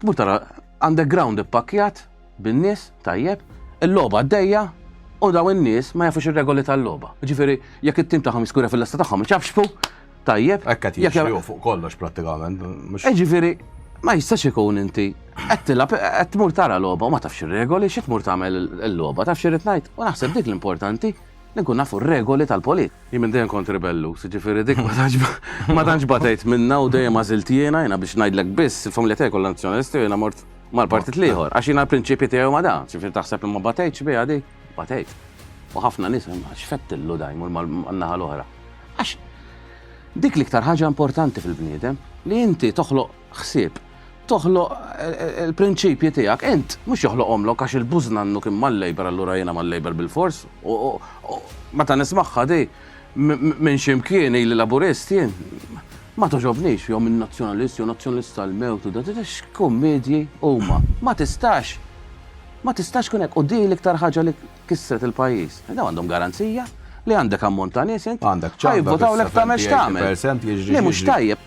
Tmur tara underground ippakkjat bin-nies tajjeb, il-logħba għaddejja u daw in-nies ma jafux ir-regoli tal-logħba. Ġifieri jekk it-tim tagħhom jiskura fil-lesta tagħhom iċafxfu tajjeb. Hekk qed jiġri fuq kollox prattikament. Eh, ġifieri ma jistax ikun inti qed tilab qed tmur tara logħba u ma tafx ir-regoli xi tmur tagħmel il-logħba taf xi ngħid u naħseb dik l-importanti li nkunu nafu r-regoli tal-politika. Jien minn dejjem kont ribelluż, jiġifieri dik ma tantx batejt minnha u dejjem għażilt jiena, jiena biex ngħidlek biss, il-familja tiegħi kollha Nazzjonalisti u jiena mort mal-partit l-ieħor, għax jiena l-prinċipji tiegħi huma dawn, jiġifieri taħseb li ma batejtx biha dik, batejt. U ħafna nies, x'fettillu da jmur man-naħa l-oħra. Għax dik l-iktar ħaġa importanti fil-bniedem li inti toħloq ħsieb. Toħloq il-prinċipji tiegħek int, mhux joħloqhomlok għax il-bużnannu kien mal-Labour allura jiena mal-Labour bilfors. Meta nismagħha di minn xi mkien ili Laburist jien, ma togħġobnix jew minn Nazzjonalist jew Nazzjonalist sal-mewt u da x'kummedji huma. Ma tistax, ma tistax tkun hekk u di l-iktar ħaġa li kissret il-pajjiż. Dawn għandhom garanzija li għandek ammont ta' nies int, ħajvvotawlek tagħmel x'tagħmel. Li mhux tajjeb.